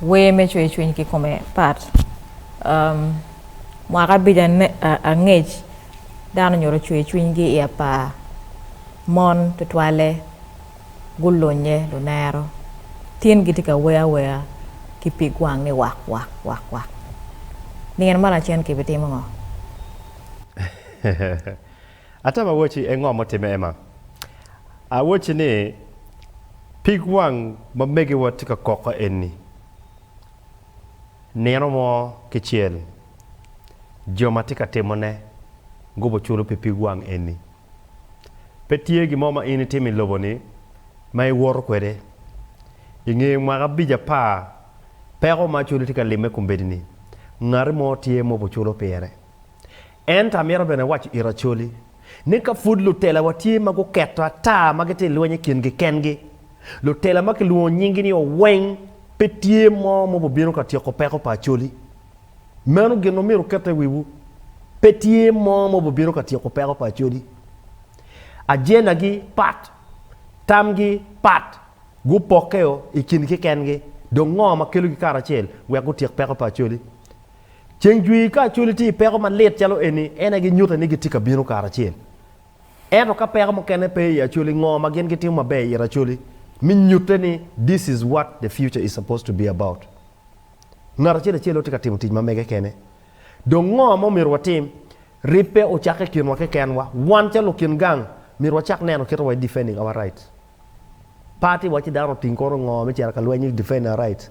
Wer me cweyo cwiny kikome part Mwaka abico angec dano onyuto cweyo cwinygi i apar mon tutwalle. gulunye lunero, tin gitye ka wer awera ki pig wang ni wak wak wak wak. Nino ma lacen kibitimo ngo? Atam awoci, e ngo ma otimme Emma? Awoci ni, pig wang ma megiwa tye ka koko eni, nino mo kicel jo ma tye ka timone gubo culo pi pig wang eni. Pe tye gin mo ma in itimo i lobo-ni ma iwoto kwede. I nge mwaka abic apar peko ma cwali tye ka limme kombeddi-ni, ngati mo tye ma obuculo pire. Ento amito bene waco it acwali ni ka pud lutelawa tye ma guketo ata ma gitye ka lweny i kingi kengi, lutela ma kilwongo nyinggi ni oweng pe tye mo ma obibino ka tyeko peko pa acwali. Meno gin ma myero okette i wiwu, Pe tye mo ma obibino ka tyeko peko pa Acodi. Ajendagi pat, tamgi pat, gupokkeo i kingi kekengi, dong ngo ma kelogi karacel wek gutyek peko pa Acodi? Ceng jwir ka Acodi tye i peko malit calo eni, en aye ginyutte ni gitye ka bino karacel. Ento ka peko mukene pe i Acodi, ngo ma gin gitimo maber i it Acodi, me nyutte ni this is what the future is supposed to be about? Ngat acel acel aye tye ka timo tic ma mege kene. Dong ngo ma omyero watim? Rip pe ocakke i kinwa kekenwa. Wan calo lukin gang, myero wacak neno kit ma wa i defending our right. Party wa ci dano oting kono ngo me cito ka lweny me defend our right.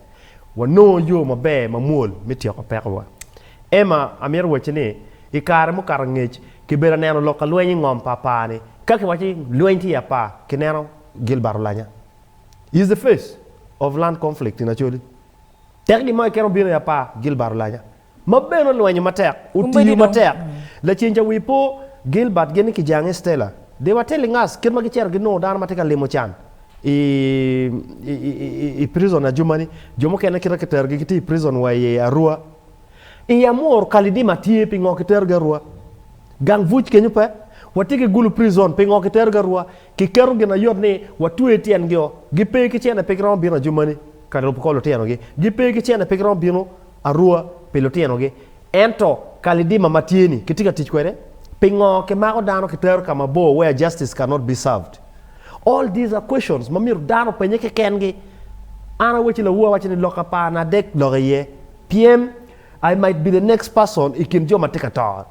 Wanongo yo maber ma mwol me tyeko peko wa. Emma, amyero awacci ni, i kare mukato angec, kibedo ka neno lok ka lweny i ngom pa apar ni, ka kiwaco ni lweny tye i apar, kineno Gilbert olanya. He is the face of land conflict in Acholi. Tek gin mo keken obino i apar, Gilbert Olanya, ma bene olwenyo matek, otiyo matek. Lacen ca wi po, Gilbert geni ki jange Stella De Watellingas kit ma gicito ginongo dano ma tye ka limo can i prison ajumani. Jo mukene kite kiterogi gitye i prison wa i Arua. I Amuru, Kalidima tye, pingo kiterogi Arua? Gang Vuc kenyo pe? Watye ki Gulu Prison, pingo kiterogi Arua? Kiketo ginayot ni watweyo tyengi-o, gipe ki cene pe giromo bino ajumani. ka lubo kor lutinogi. Gipe ki cente pe giromo bino arua pi lutinogi. Ento kalidima ma tye-ni kitye ka tic kwede? Pingo kimako dano kitero ka mabor where justice cannot be served? All these are questions ma myero dano openye kekengi. An awaci lawu awaco ni lok apar na dek lok iye pien I might be the next person i kin jo ma tye ka to.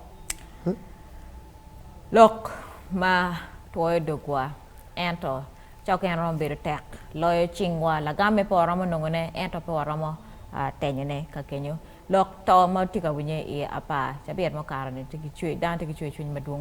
Lok ma twoyo dogwa ento Cok en romo bedo tek loyo cingwa. Lagam me pe waromo nongone ento pe waromo tenyone ka kenyo lok to ma watye ka winye i apar cabit mukato ni tye ki cwer, dano tye ki cwercwiny madwong.